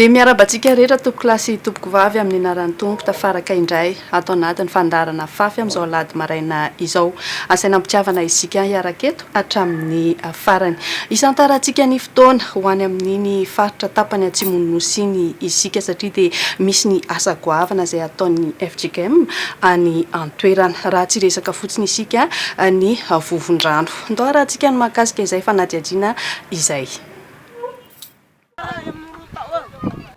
Dia miaraba antsika rehetra tompoko lahy sy tompoko vavy amin'ny anaran'ny Tompo tafaraka indray ato anatin'ny fandaharana fafy amin'izao alady maraina izao. Asaina ampitiavana isika hiaraka eto hatramin'ny farany. Isantarantsika ny fotoana ho any amin'iny faritra tapany atsimon'ny nosy iny isika satria dia misy ny asa goavana izay ataon'ny fjkm any an toerana raha tsy hiresaka fotsiny isika ny vovon-drano. Ndao harahantsika ny mahakasika izay fanadihadiana izay.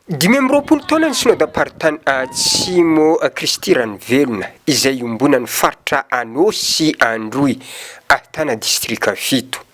Dimy amby roapolo taona ny Synodamparitany Atsimo Kristy Ranovelona izay iombonan'ny faritra Anôsy Androy, Ahtana Distrika fito.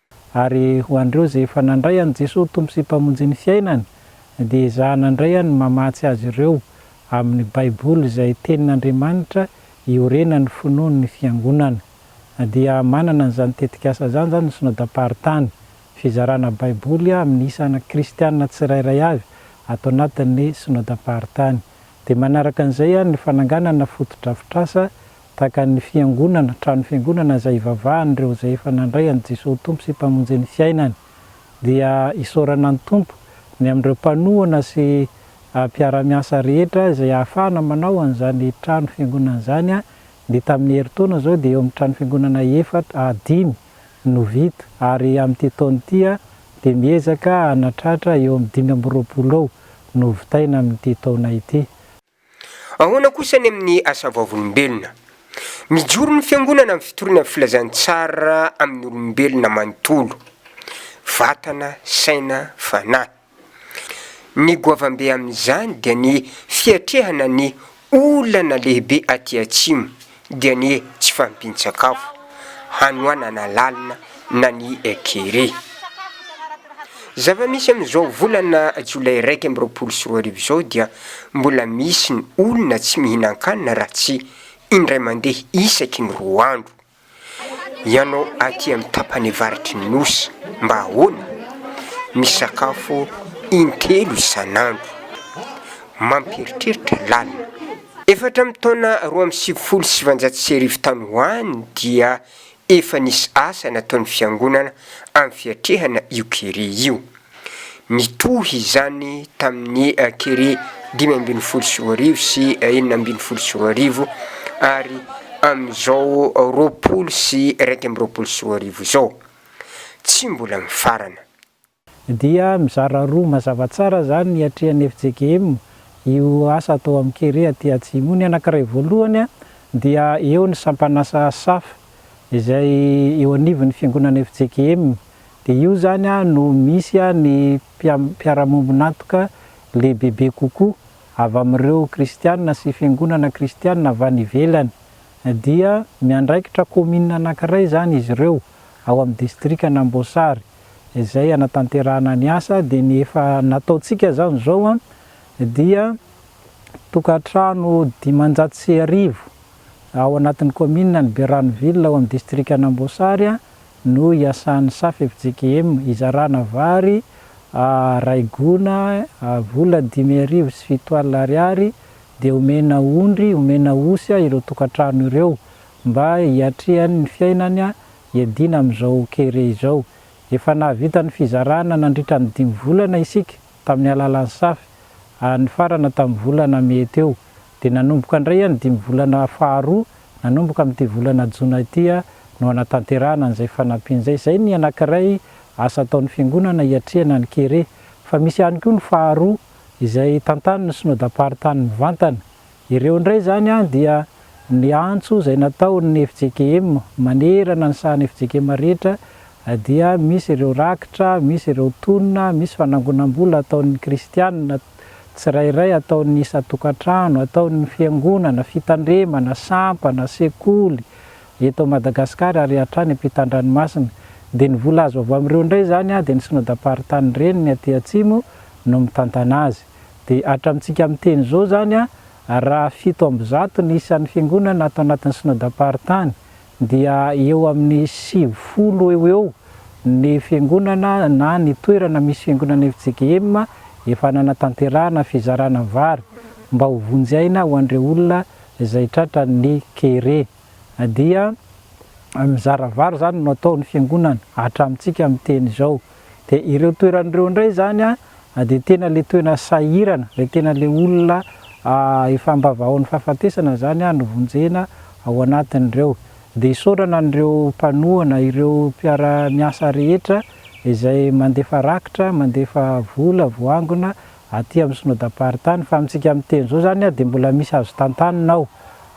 Ary ho an'ireo izay efa nandray an'i Jesoa ho Tompo sy Mpamonjin'ny fiainany, dia ezahana indray any ny mamatsy azy ireo amin'ny Baiboly izay Tenin'Andriamanitra iorenan'ny finoan'ny Fiangonana. Dia manana an'izany tetikasa izany izany ny Synodam-paritany, fizarana Baiboly amin'ny isana kristiana tsirairay avy ato anatin'ny Synodam-paritany. Dia manaraka an'izay ny fananganana fotodrafitrasa Takan'ny Fiangonana, trano Fiangonana izay ivavahan'ireo izay efa nandray an'i Jesoa ho Tompo sy Mpamonjy ny fiainany. Dia isaorana ny Tompo ny amin'ireo mpanohana sy mpiara-miasa rehetra izay ahafahana manao an'izany trano Fiangonana izany, ny tamin'ny herintaona izao dia eo amin'ny trano Fiangonana efatra, dimy, no vita ary amin'ity taona ity dia miezaka hanatratra eo amin'ny dimy amby roapolo eo no hovitaina amin'ity taona ity. Ahoana kosa ny amin'ny asa vavolombelona? Mijoro ny Fiangonana amin'ny fitoriana filazantsara amin'ny olombelona manontolo, vatana, saina, fanahy. Ny goavambe amin'izany dia ny fiatrehana ny olana lehibe aty Atsimo, dia ny tsy fahampian-tsakafo hanoanana lalina na ny kere. Zava-misy amin'izao volana jolay iraika amby roapolo sy roa arivo izao dia mbola misy ny olona tsy mihinan-kanina raha tsy indray mandeha isaky ny roa andro. Ianao aty amin'ny tapany avaratry ny Nosy mba ahoana? Misakafo in-telo isan'andro. Mampieritreritra lalina. Efa hatramin'ny taona roa amby sivifolo sy sivanjato sy arivo tany ho any dia efa nisy asa nataon'ny Fiangonana amin'ny fiatrehana io kere io. Nitohy izany tamin'ny kere dimy ambin'ny folo sy roa arivo sy enina ambin'ny folo sy roa arivo ary amin'izao roapolo sy iraika amby roapolo sy roa arivo izao tsy mbola mifarana. Dia mizara roa mazava tsara izany ny hiatrehan'ny FJKM io asa atao amin'ny kere aty Atsimo io. Ny anankiray voalohany dia eo ny sampan'asa Saf izay eo anivon'ny fiangonana FJKM. Dia io izany no misy ny mpiara-miombon'antoka lehibebe kokoa avy amin'ireo kristiana sy fiangonana kristiana avy any ivelany. Dia miandraikitra kaominina anankiray izany izy ireo ao amin'ny distrikan'Amboasary. izay hanatanterahana ny asa dia ny efa nataontsika izany izao an, dia tokantrano dimanjato sy arivo ao anatin'ny kaominina ny Berano Ville ao amin'ny distrikan'Amboasary no iasan'ny SAFFJKM hizarana vary iray gona vola dimy arivo sy fito alina ariary dia omena ondry, omena osy ireo tokantrano ireo mba hiatrehany ny fiainany Iadiana amin'izao kere izao. Efa nahavita ny fizarana nandritra ny dimy volana isika tamin'ny alalan'ny Saf ary nifarana tamin'ny volana Mey teo. Dia nanomboka indray ny dimy volana faharoa, nanomboka amin'ity volana Jona ity no hanatanterahana an'izay fanampiana izay. Izay ny anankiray asa ataon'ny Fiangonana hiatrehana ny kere. Fa misy ihany koa ny faharoa izay tantanin'ny Synodam-paritany mivantana. Ireo indray izany dia ny antso izay nataon'ny fjkm manerana ny sahan'ny fjkm rehetra dia misy ireo rakitra, misy ireo tonina, misy fanangonam-bola ataon'ny kristianina tsirairay, ataon'ny isan-tokantrano, ataon'ny fiangonana, fitandremana, sampana, sekoly eto Madagasikara ary hatrany ampitan-dranomasina. Dia ny vola azo avy amin'ireo indray izany dia ny Synodam-paritany Reniny aty Atsimo no mitantana azy. Dia hatramintsika miteny izao izany, raha fito amby zato ny isan'ny fiangonana ato anatin'ny Synodam-paritany, dia eo amin'ny sivifolo eo ho eo ny fiangonana na ny toerana misy fiangonana FJKM efa nanatanterahana fizarana vary mba ho vonjy aina ho an'ireo olona izay tratran'ny kere. Dia mizara vary izany no atao ny fiangonana, hatramintsika miteny izao. Dia ireo toerana ireo indray izany. dia tena le toena sahirana, le tena le olona efa ambavahaon'ny fahafatesana izany no vonjena ao anatin'ireo. Dia isaorana an'ireo mpanohana, ireo mpiara miasa rehetra izay mandefa rakitra, mandefa vola, voangona aty amin'ny Synodam-paritany fa amintsika miteny izao izany dia mbola misy azo tantanina ao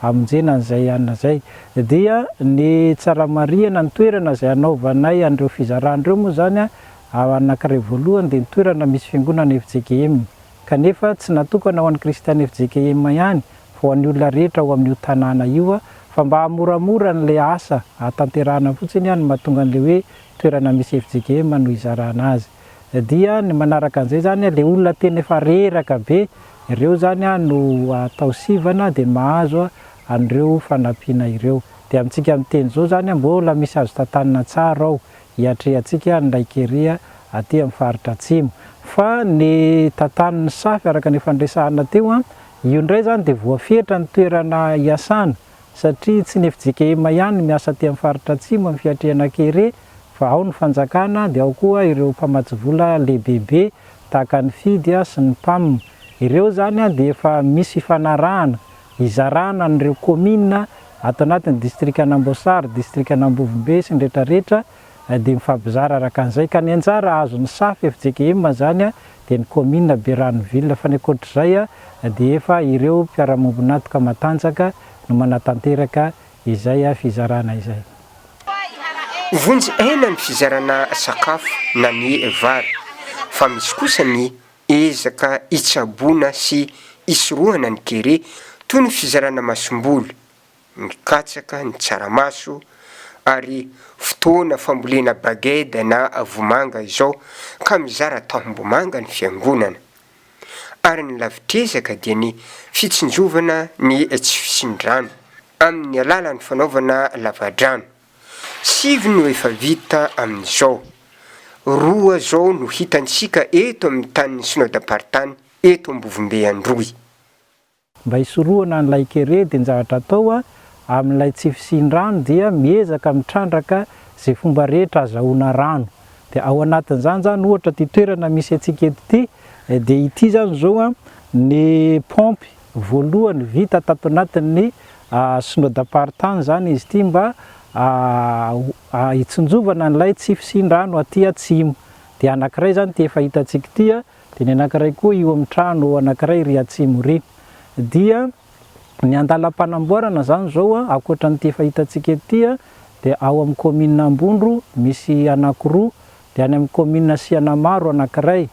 hamonjena an'izay anona izay. Dia ny tsara marihana ny toerana izay hanaovanay an'ireo fizarana ireo moa izany Ao anankiray voalohany dia ny toerana misy fiangonana fjkm, kanefa tsy natokana ho an'ny kristiana fjkm ihany fa ho an'ny olona rehetra ao amin'io tanàna io, fa mba hahamoramora an'ilay asa hahatanterahana fotsiny aho no mahatonga an'ilay hoe toerana misy fjkm no hizarana azy. Dia ny manaraka an'izay izany ilay olona tena efa reraka be, ireo izany no atao sivana dia mahazo an'ireo fanampiana ireo. Dia amintsika miteny izao izany mbola misy azo tantanina tsara ao, Iatrehantsika ary ny raikeria aty amin'ny faritra Atsimo. Fa ny tantanin'ny safy araka ny efa niresahana teo, io indray izany dia voafetra ny toerana iasana satria tsy ny fjkm ihany no miasa aty amin'ny faritra Atsimo amin'ny fiatrehana kere fa ao ny fanjakana dia ao koa ireo mpamatsy vola lehibebe tahaka ny Fidia sy ny Pam. Ireo izany dia efa misy fifanarahana Hizarana an'ireo kaominina ato anatin'ny distrikan'Amboasary, distrikan'Ambovombe sy ny retraretra dia mifampizara araka an'izay ka ny anjara azon'ny safa fjkm izany dia ny kaominina Berano ville fa ny ankoatr'izay dia efa ireo mpiara-mombon'antoka matanjaka no manatanteraka izay fizarana izay. Vonjy aina ny fizarana sakafo na ny vary fa misy kosa ny Ezaka hitsaboana sy hisorohana ny kere toy ny fizarana masomboly, ny katsaka, ny tsaramaso ary fotoana fambolena baged na vomanga izao ka mizara tahombomanga ny Fiangonana. Ary ny lavitr'ezaka dia ny fitsinjovana ny tsy fisian-drano amin'ny alalan'ny fanaovana lavadrano. Sivy no efa vita amin'izao. Roa izao no hitantsika eto amin'ny tanin'ny Synodam-paritany eto Ambovombe Androy. Mba hisorohana an'ilay kere dia ny zavatra atao amin'ilay tsy fisian-drano dia miezaka mitrandraka izay fomba rehetra azahoana rano. Dia ao anatin'izany izany ohatra ity toerana misy antsika eto ity dia ity izany izao ny paompy. voalohany vita tato anatin'ny Synodam-paritany izany izy ity mba hitsinjovana an'ilay tsy fisian-drano aty atsimo. Dia anankiray izany ity efa hitantsika ity, dia ny anankiray koa io amin'ny trano anankiray ery atsimo ery. Dia ny andalam-panamboarana izany izao, ankoatra an'ity efa hitantsika eto ity, dia ao amin'ny kaominina Ambondro misy anankiroa, Dia any amin'ny kaominina Sianamaro anankiray,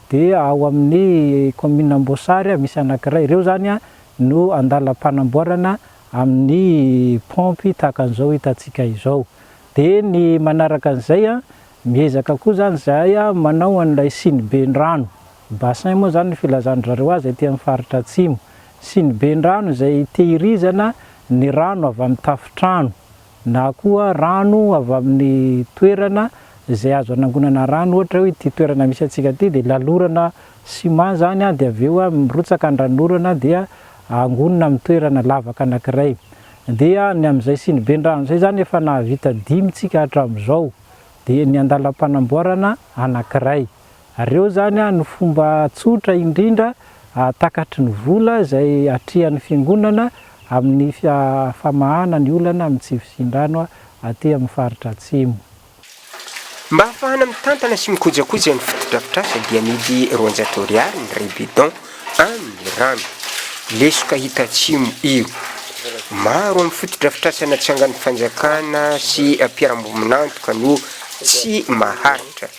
dia ao amin'ny kaominina Amboasary misy anankiray. Ireo izany no andalam-panamboarana amin'ny paompy tahaka an'izao hitantsika izao. Dia ny manaraka an'izay, miezaka koa izany izahay manao an'ilay siniben-drano, bassin moa izany ny filazan-dry zareo azy aty amin'ny faritra atsimo. Siniben-drano izay itehirizana ny rano avy amin'ny tafontrano, na koa rano avy amin'ny toerana izay azo anangonana rano, ohatra hoe ity toerana misy antsika ity dia lalorana ciment izany dia avy eo mirotsaka an-dranorana dia angonina amin'ny toerana lavaka anankiray, dia ny amin'izay siniben-drano izay izany efa nahavita dimy isika hatramin'izao, dia ny an-dalam-panamboarana anankiray. Ary eo izany no fomba tsotra indrindra takatry ny vola izay atrehan'ny Fiangonana amin'ny famahana ny olana amin'ny tsy fisian-drano aty amin'ny faritra Atsimo. Mba ahafahana mitantana sy mikojakoja ny fotodrafitrasa dia amidy roanjato Ariary ny ray bidon amin'ny rano lesoka Itatsimo io. Maro amin'ny fotodrafitrasa natsangan'ny Fanjakana sy mpiarambomin'antoka no tsy maharitra.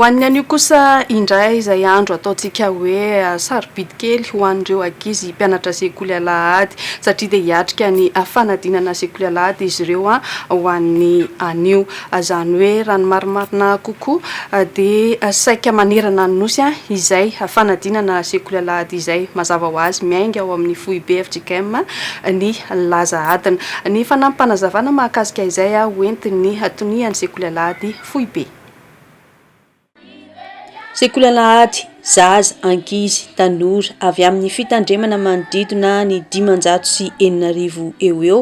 Ho an'ny anio kosa indray izay andro ataontsika hoe ah, sarobidy kely ho an'ireo ankizy mpianatra sekoly alahady satria dia hiatrika ny fanadinana sekoly alahady izy ireo ah, ho an'ny anio. Izany hoe raha ny marimarina kokoa dia saika manerana ny Nosy izay fanadinana sekoly alahady izay mazava ho azy miainga ao amin'ny foibe fjkm ny laza adina. Ny fanampim-panazavana mahakasika izay ho entin'ny tonian'ny sekoly alahady foibe. Sekoly Alahady, Zaza, ankizy, tanora avy amin'ny fitandremana manodidina ny dimanjato sy enina arivo eo ho eo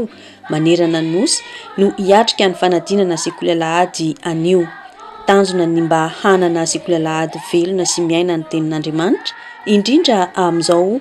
manerana ny Nosy no hiatrika ny fanadinana Sekoly Alahady anio. Tanjona ny mba hanana Sekoly Alahady velona sy miaina ny Tenin'Andriamanitra, indrindra amin'izao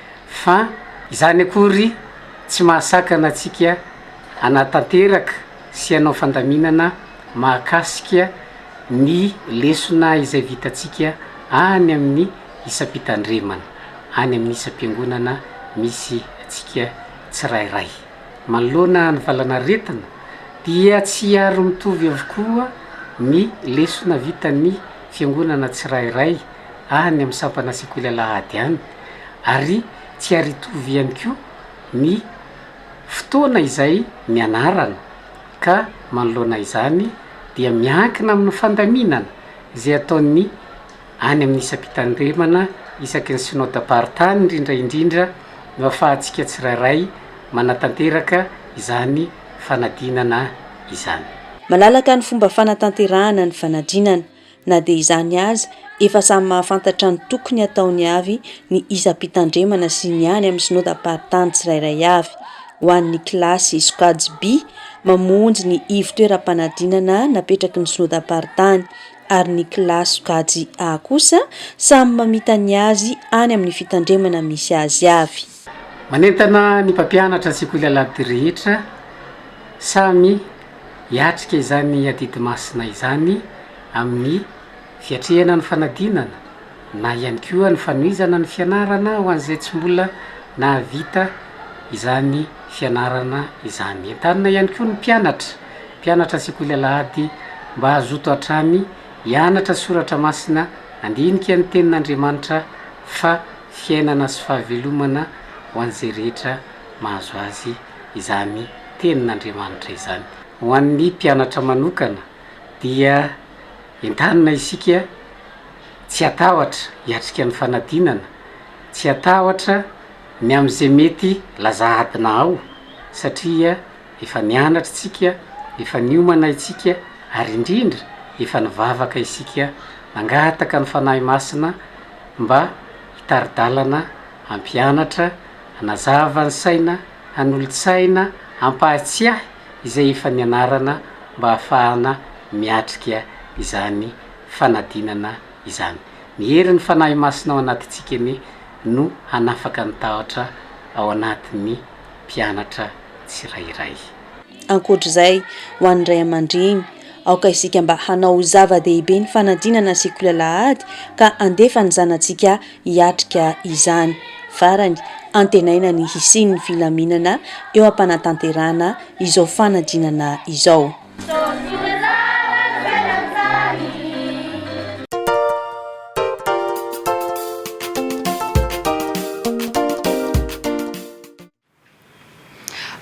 Fa izany akory tsy mahasakana antsika hanatanteraka sy hanao fandaminana mahakasika ny lesona izay vitantsika any amin'ny isam-pitandremana, any amin'ny isam-piangonana misy antsika tsirairay. Manoloana ny valan'aretina dia tsy ary mitovy avokoa ny lesona vitan'ny fiangonana tsirairay any amin'ny sampana sekoly alahady any, ary tsy ary hitovy ihany koa ny fotoana izay nianarana ka manoloana izany dia miankina amin'ny fandaminana izay ataon'ny any amin'ny isam-pitandremana isaky ny Synodamparitany indrindra indrindra no afahantsika tsirairay manatanteraka izany fanadinana izany. Malalaka ny fomba fanatanterahana ny fanadinana. Na dia izany aza, efa samy mahafantatra ny tokony hataony avy ny isam-pitandremana sy ny any amin'ny synodam-paritany tsirairay avy. Ho an'ny kilasy sokajy B, mamonjy ny ivon-toeram-panadinana napetraky ny synodam-paritany, ary ny kilasy sokajy A kosa samy mamita ny azy any amin'ny fitandremana misy azy avy. Manentana ny mpampianatra ny sekoly Alahabodir rehetra samy hiatrika izany adidy masina izany amin'ny fiatrehana ny fanadinana na ihany koa ny fanohizana ny fianarana ho an'izay tsy mbola nahavita izany fianarana izany. Entanina ihany koa ny mpianatra mpianatra sekoly Alahady mba hazoto hatrany hianatra soratra masina, handinika ny tenin'Andriamanitra fa fiainana sy fahavelomana ho an'izay rehetra mahazo azy izany Tenin'Andriamanitra izany. Ho an'ny mpianatra manokana dia entanina isika tsy hatahotra hiatrika ny fanadinana, tsy hatahotra ny amin'izay mety laza adina ao satria efa nianatra isika, efa niomana isika ary indrindra efa nivavaka isika nangataka ny Fanahy Masina, mba hitari-dalana hampianatra, hanazava ny saina, hanolo-tsaina, hampahatsiahy izay efa nianarana mba hahafahana miatrika izany fanadinana izany. Ny herin'ny Fanahy Masina ao anatintsika anie no hanafaka ny tahotra ao anatin'ny mpianatra tsirairay. Ankoatra izay, ho an'ny ray aman-dreny, aoka isika mba hanao ho zava-dehibe ny fanadinana sy kilalà ady ka handefa ny zanatsika hiatrika izany. Farany, antenaina ny hisian'ny filaminana eo am-panatanterahana izao fanadinana izao.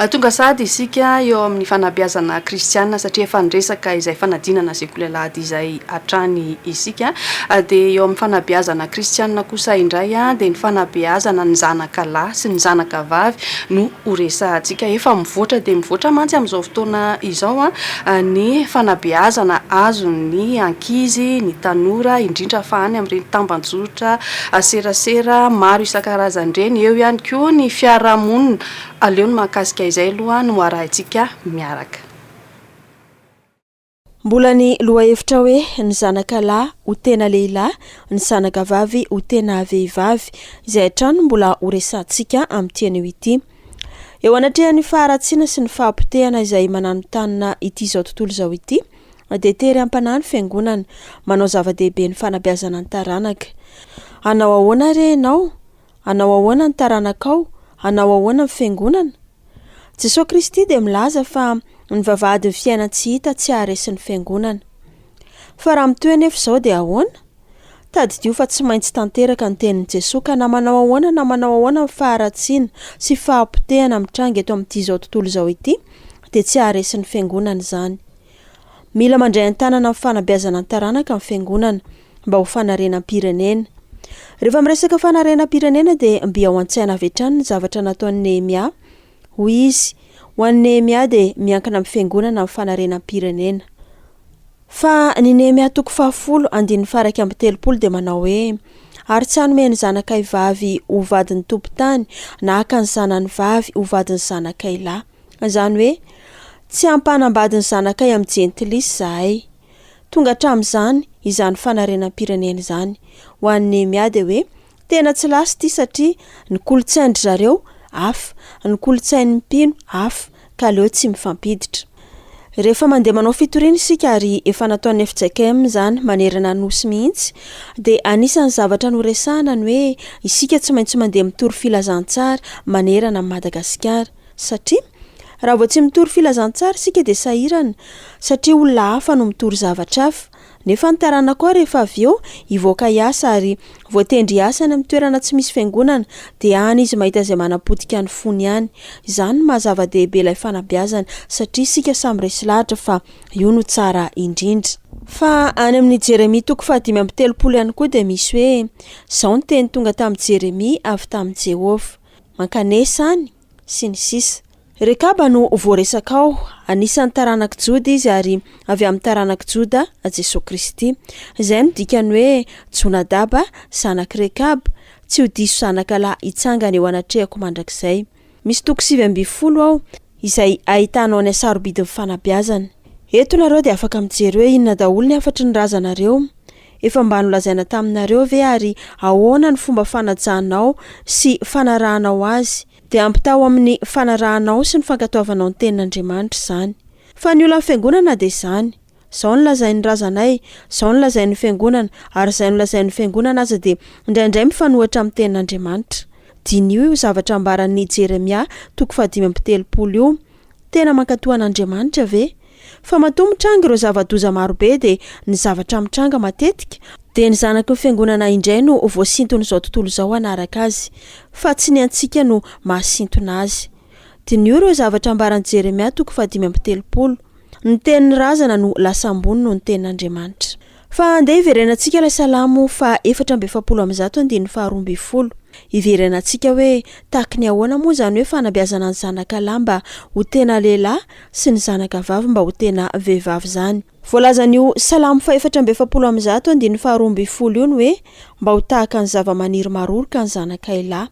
Tonga sahady isika eo amin'ny fanabeazana kristiana satria efa niresaka izay fanadinana sekoly alahady izay hatrany isika. Dia eo amin'ny fanabeazana kristiana kosa indray dia ny fanabeazana ny zanaka lahy sy ny zanaka vavy no ho resahantsika. Efa mivoatra dia mivoatra mantsy amin'izao fotoana izao ny fanabeazana azon'ny ankizy, ny tanora indrindra fa any amin'ireny tamban-jotra ary serasera maro isan-karazany ireny, eo ihany koa ny fiarahamonina, aleo ny mahakasika izay aloha no arahintsika miaraka. Mbola ny lohahevitra hoe ny zanaka lahy ho tena lehilahy, ny zanaka vavy ho tena vehivavy, izay hatrany no mbola ho resahantsika amin'ity anio ity. Eo anatrehan'ny faharatsiana sy ny fahapotehana izay mananontanona ity izao tontolo izao ity, dia tery am-panahy ny Fiangonana. Manao zava-dehibe ny fanabeazana ny taranaka. Hanao ahoana re ianao? Hanao ahoana ny taranakao? Hanao ahoana ny Fiangonana? Jesoa Kristy dia milaza fa ny vavahadin'ny fiainan-tsy hita tsy haharesy ny Fiangonana. Fa raha mitohy anefa izao dia ahoana? Tadidio fa tsy maintsy tanteraka ny tenin'i Jesoa ka na manao ahoana na manao ahoana ny faharatsiana sy fahapotehana mitranga eto amin'ity izao tontolo izao ity dia tsy haharesy ny Fiangonana izany. Mila mandray an-tanana amin'ny fanabeazana ny taranaka ny Fiangonana mba ho fanarenam-pirenena. Rehefa miresaka fanarenam-pirenena dia mby ao an-tsaina avy hatrany ny zavatra nataon'i Nehemia Hoy izy, Ho an'i Nehemia dia miankina amin'ny fiangonana ny fanarenam-pirenena. Fa ny Nehemia toko fahafolo, andininy faha iraika amby telopolo dia manao hoe, Ary tsy hanome ny zanakay vavy ho vadin'ny tompon-tany, na haka ny zanany vavy ho vadin'ny zanakay lahy. Izany hoe, tsy hampanambady ny zanakay amin'ny jentilisa izahay. Tonga hatramin'izany izany fanarenam-pirenena izany. Ho an'i Nehemia dia hoe, Tena tsy last ity satria ny kolontsain dry zareo hafa, ny kolontsain'ny mpino hafa ka aleo tsy mifampiditra. Rehefa mandeha manao fitoriana isika ary efa nataon'ny fjkm izany manerana ny Nosy mihitsy dia anisan'ny zavatra noresahana ny hoe isika tsy maintsy mandeha mitory filazantsara manerana an'i Madagasikara satria raha vao tsy mitory filazantsara isika dia sahirana satria olona hafa no mitory zavatra hafa Nefa ny taranako aho rehefa avy eo hivoaka hiasa ary voatendry hiasa any amin'ny toerana tsy misy fiangonana dia any izy mahita izay manapotika ny fony any. Izany no maha zava-dehibe ilay fanabeazana satria isika samy resy lahatra fa io no tsara indrindra. Fa any amin'ny Jeremia toko fahadimy amby telopolo ihany koa dia misy hoe, Izao ny teny tonga tamin'i Jeremia avy tamin'i Jehovah. Mankanesa any. sy ny sisa. Rekaba no voaresaka ao, anisan'ny taranak'i Joda izy ary avy amin'ny taranak'i Joda Jesoa Kristy. Izay no dikan'ny hoe Jonadaba zanak'i Rekaba, tsy ho diso zanaka lahy hitsangana eo anatrehako mandrakizay. Misy toko sivy ambin'ny folo ao izay ahitanao ny hasarobidin'ny fanabeazana. Eto nareo dia afaka mijery hoe inona daholo ny hafatry ny razanareo. Efa mba nolazaina taminareo ve ary ahoana ny fomba fanajanao sy fanarahanao azy? Dia ampitaho amin'ny fanarahanao sy ny fankatoavanao ny tenin'Andriamanitra izany. Fa ny olan'ny Fiangonana dia izany. Izao no lazain'ny razanay, izao no lazain'ny Fiangonana, ary izay nolazain'ny Fiangonana aza dia indraindray mifanohitra amin'ny tenin'Andriamanitra. Diniho io zavatra ambaran'i Jeremia toko fahadimy amby telopolo io, Tena mankatoa an'Andriamanitra ve? Fa matoa mitranga ireo zava-doza marobe dia ny zavatra mitranga matetika dia ny zanaky ny fiangonana indray no voasinton'izao tontolo izao hanaraka azy, fa tsy ny antsika no mahasintona azy. Diniho ireo zavatra ambaran'i Jeremia toko fahadimy amby telopolo, Ny tenin'ny razana no lasa ambony noho ny tenin'Andriamanitra. Fa andeha hiverenantsika ilay salamo faha efatra amby efapolo amby zato andininy faha roa ambin'ny folo. Hiverenantsika hoe tahaky ny ahoana moa izany hoe fanabeazana ny zanaka lahy mba ho tena lehilahy sy ny zanaka vavy mba ho tena vehivavy izany. Voalazan'io salamo faha efatra amby efapolo amby zato andininy faha roa ambin'ny folo io ny hoe mba ho tahaka ny zava-maniry maroroka ny zanakay lahy.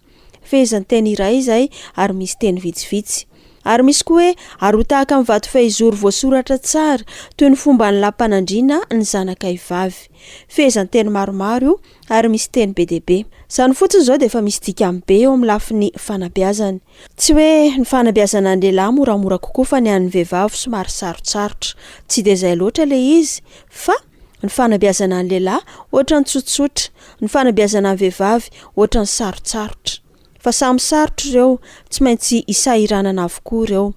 Fehezanteny iray izay ary misy teny vitsivitsy. Ary misy koa hoe, Ary ho tahaka ny vato fehizoro voasoratra tsara, toy ny fomban'ny lampanandriana ny zanakay vavy. Fehezanteny maromaro io ary misy teny be dia be. Izany fotsiny izao dia efa misy dikany be eo amin'ny lafiny fanabeazana. Tsy hoe ny fanabeazana ny lehilahy moramora kokoa fa ny an'ny vehivavy somary sarotsarotra. Tsy dia izay loatra ilay izy fa. Ny fanabeazana ny lehilahy ohatran'ny tsotsotra, ny fanabeazana ny vehivavy ohatran'ny sarotsarotra. Fa samy sarotra ireo, tsy maintsy isahiranana avokoa ireo.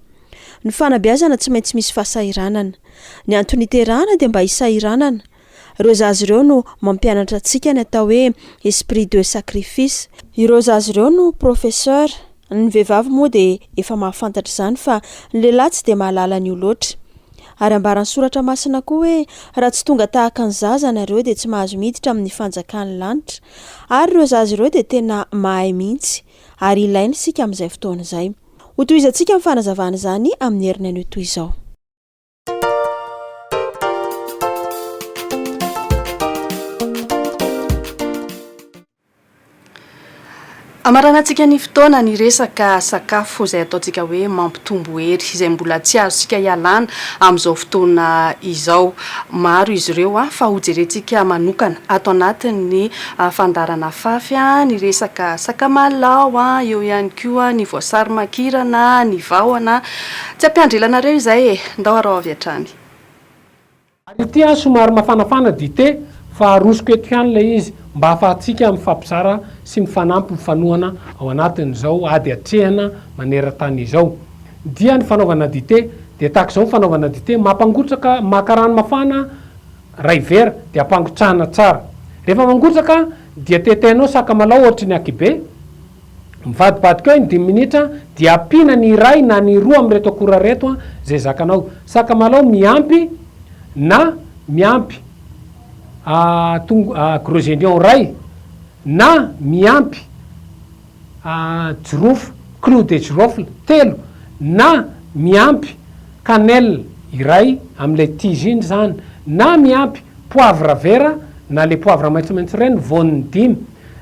Ny fanabeazana tsy maintsy misy fahasahiranana. Ny antony iterahana dia mba hisahiranana. Ireo zaza ireo no mampianatra antsika ny atao hoe esprit de sacrifice. Ireo zaza ireo no professeur. Ny vehivavy moa dia efa mahafantatra izany fa ny lehilahy tsy dia mahalala an'io loatra. Ary ambaran'ny Soratra Masina koa hoe, Raha tsy tonga tahaka ny zaza ianareo, dia tsy mahazo miditra amin'ny fanjakan'ny lanitra. Ary ireo zaza ireo dia tena mahay mihitsy, ary ilaina isika amin'izay fotoana izay. Hotohizantsika ny fanazavana izany amin'ny heriny anio toy izao. Hamaranantsika ny fotoana ny resaka sakafo izay ataontsika hoe mampitombo hery, izay mbola tsy azontsika ialana amin'izao fotoana izao. Maro izy ireo fa hojerentsika manokana ato anatin'ny fandaharana fafy ny resaka sakamalao, eo ihany koa ny voasary makirana, ny vahona. Tsy ampiandrilanareo izay e! Ndao araho avy hatrany. Ary ity aho somary mafanafana dite fa arosoko eto ihany ilay izy mba hahafahantsika mifampizara sy mifanampy mifanohana ao anatin'izao ady atrehina maneran-tany izao. Dia ny fanaovana dite dia tahaka izao ny fanaovana dite, mampangotraka, maka rano mafana iray vera dia ampangotrahana tsara. Rehefa mangotraka dia tetehinao sakamalaho ohatry ny akibe. Mivadibadika eo ny dimy minitra dia ampiana ny iray na ny roa amin'ireto akora ireto izay zakanao. Sakamalao miampy na miampy gros oignon iray na miampy jirofo clou de girofle telo na miampy cannelle iray amin'ilay tige iny izany na miampy poivre vert na ilay poivre maitsomaitso ireny voany dimy.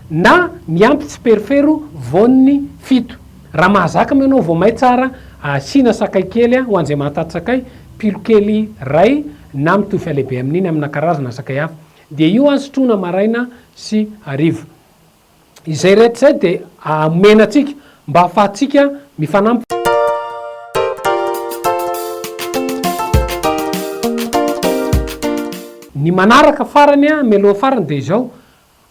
na miampy tsiperifero voan'ny fito. Raha mahazaka moa ianao voamay tsara, asiana sakay kely ho an'izay mahataty sakay, pilo kely iray na mitovy fihalehibe amin'iny amina karazana sakay hafa. Dia io sotroina maraina sy hariva. Izay rehetra izay dia omena antsika mba hahafahantsika mifanampy. Ny manaraka farany, mialoha farany dia izao,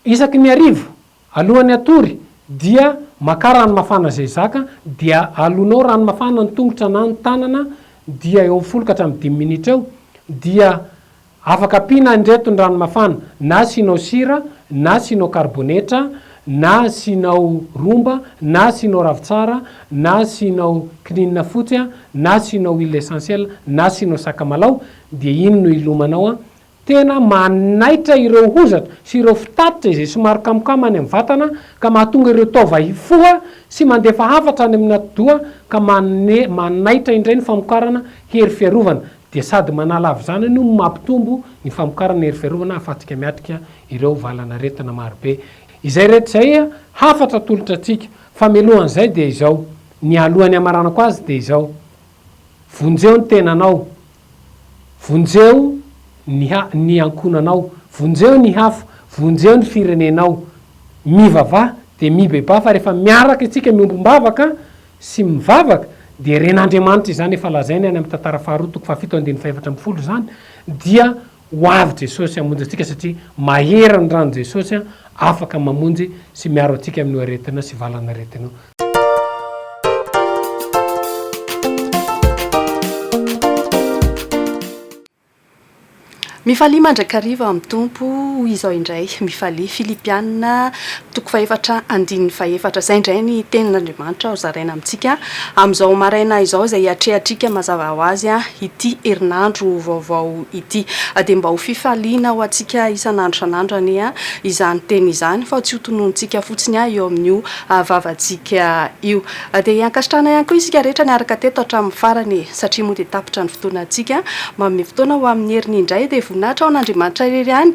Isaky ny hariva, alohan'ny hatory, dia makà rano mafana izay zaka, dia alonao rano mafana ny tongotra na ny tanana, dia eo amin'ny folo ka hatramin'ny dimy minitra eo, dia afaka ampiana indreto ny rano mafana, na asianao sira, na asianao karibonetra, na asianao romba, na asianao ravintsara, na asianao kininina fotsy, na asianao huile essentielle, na asianao sakamalaho, dia iny no hilomanao, Tena manaitra ireo hozatra sy ireo fitatitra izay somary kamokamo any amin'ny vatana ka mahatonga ireo taova hifoha sy mandefa hafatra any amin'ny atidoha ka manome manaitra indray ny famokarana hery fiarovana dia sady manala avy izany no mampitombo ny famokarana hery fiarovana ahafahantsika miatrika ireo valan'aretina marobe izay rehetra izay hafatra atolotra antsika. Famelohana izay dia izao, ny alohan'ny hamaranako azy dia izao. Vonjeo ny tenanao. Vonjeo ny ha, ny ankohonanao. Vonjeo ny hafa. Vonjeo ny firenenao. Mivavaha dia mibebaha fa rehefa miaraka isika miombom-bavaka sy mivavaka dia ren'Andriamanitra izany efa lazainy any amin'ny tantara faharoa toko fahafito andininy fahefatra ambin'ny folo izany dia Ho avy Jesosy hamonjy antsika satria mahery ny ran'i Jesosy an, afaka mamonjy sy miaro antsika amin'io aretina sy valan'aretina io. Mifalia mandrakariva amin'ny Tompo, hoy izao indray, mifalia. Filipiana Toko fahefatra andininy fahefatra. Izay indray ny tenin'Andriamanitra hozaraina amintsika amin'izao maraina izao, izay hiatrehantsika mazava ho azy ity herinandro vaovao ity. Dia mba ho fifaliana ho antsika isan'andro isan'andro anie izany teny izany, fa tsy ho tononontsika fotsiny eo amin'io vavantsika io. Dia hankasitrahana ihany koa isika rehetra niaraka teto hatramin'ny farany e! Satria moa dia tapitra ny fotoanantsika, manome fotoana ho amin'ny heriny indray, dia voninahitra ho an'Andriamanitra irery ihany.